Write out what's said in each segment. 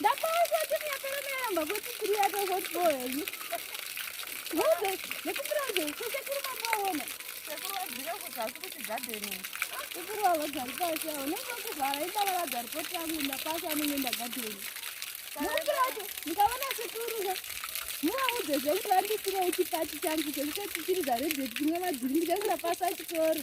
Ndakauza timu yapera neyamba kuti tiri yato hot boy you. Ngoze nekupira nje kwese kuri mapaona. Sekuru wadzira kuti asi kuti gardening. Sekuru wavo dzari pasi awo nekuva kuvhara ibaba vadzari poti yangu ndapasi anenge ndagadeni. Nekupira wacho ndikaona sekuru zve muvaudze zvengu vandisire chipati changu chekuti tichiri dzaredheti kumwe vadziri ndikangura pasi achikoro.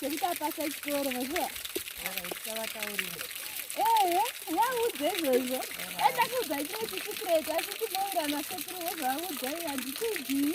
chekuti apasa chikoro mazuva ehe vaudze izvozvo andakuudza chimwe chisikreti asi chinoira masekuru wezvaudza iye handitidii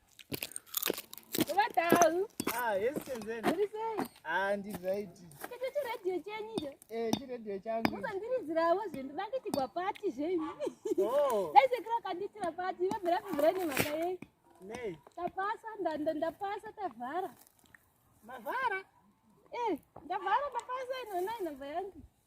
Vatau. Ah, yes, Senzeni. Muri sei? Ah, ndi right. Kete chi radio chenyu cho? Eh, chi radio changu. Musandiridzirawo zvinhu vanditigwa pati zvenyu. Oh. Dai sekira kanditira pati, vabvira kubvira nemhaka yei? Nei? Tapasa, ndanda ndapasa tavhara. Mavhara? Eh, ndavhara ndapasa ino nai namba yangu.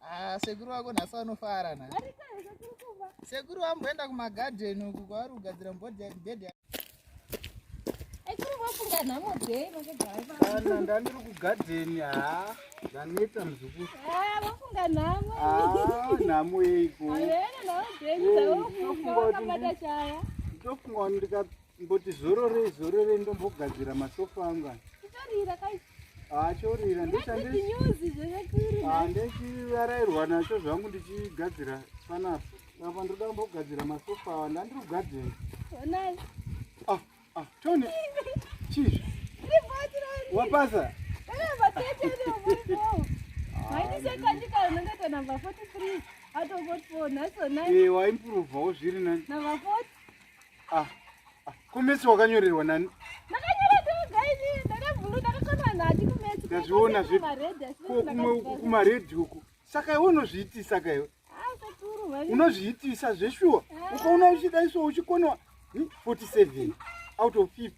Ah, sekuru wako nhasi vanofara na. Sekuru vamboenda kumagadheni uku kwavari kugadzira mbodhi bed. Kana ndandiri kugadheni ha ndaneta muzukuru. Vafunga nhamo. Ah, nhamo yeiko. Ndofunga kuti ndikamboti zororei zororei ndombogadzira masofa anga. Kutorira kaisi. achorira ndechandechivarairwa nacho zvangu ndichigadzira panapa apa ndoda kumbogadzira masofa awa ndandiri kugadzira ah, ah, tony chizvi wapasa waimpurovhawo zviri nani Ah, ah, kumesi wakanyorerwa nani? ndazviona zvekumaredhi uku saka iwe unozviitisa ka iwe ah, unozviitisa zveshuwa ah. ukaona uchidaiswa uchikonewa 47 hm, out of 50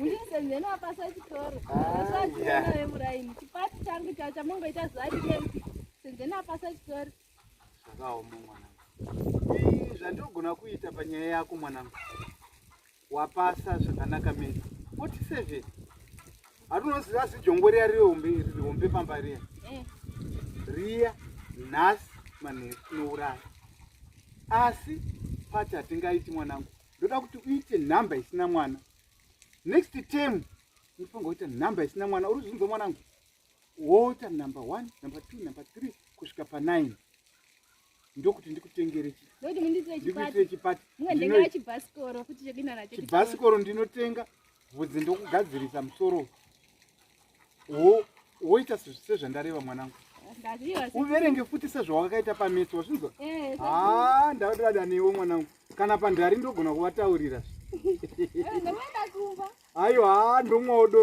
ndisenzeno apasa chitoro asachiona vemuraini chipati changu chao chamongoita zuva rimwe senzeno apasa chitoro zvakaoma mwana zvandigona kuita panyaya yako mwanangu wapasa zvakanaka mene foti seven hatunoziva asi jongo riya rihombe rihombe pamba riya eh. riya nhasi manheru tinouraya asi pati hatingaiti mwanangu ndoda kuti uite nhamba isina mwana next term unofanira kuita nhamba isina mwana uri zvinzwa mwanangu woita number one number two number three kusvika panine ndokuti ndikutengere chindikuitire chipati ndinotenga vhudzi ndokugadzirisa musoro woita sezvandareva mwanangu uverenge futi sezvawakaita pametsi wazvinzwa eh, ha ndadada newe mwanangu kana pandari ndogona kuvataurira aiwa ndomwaodo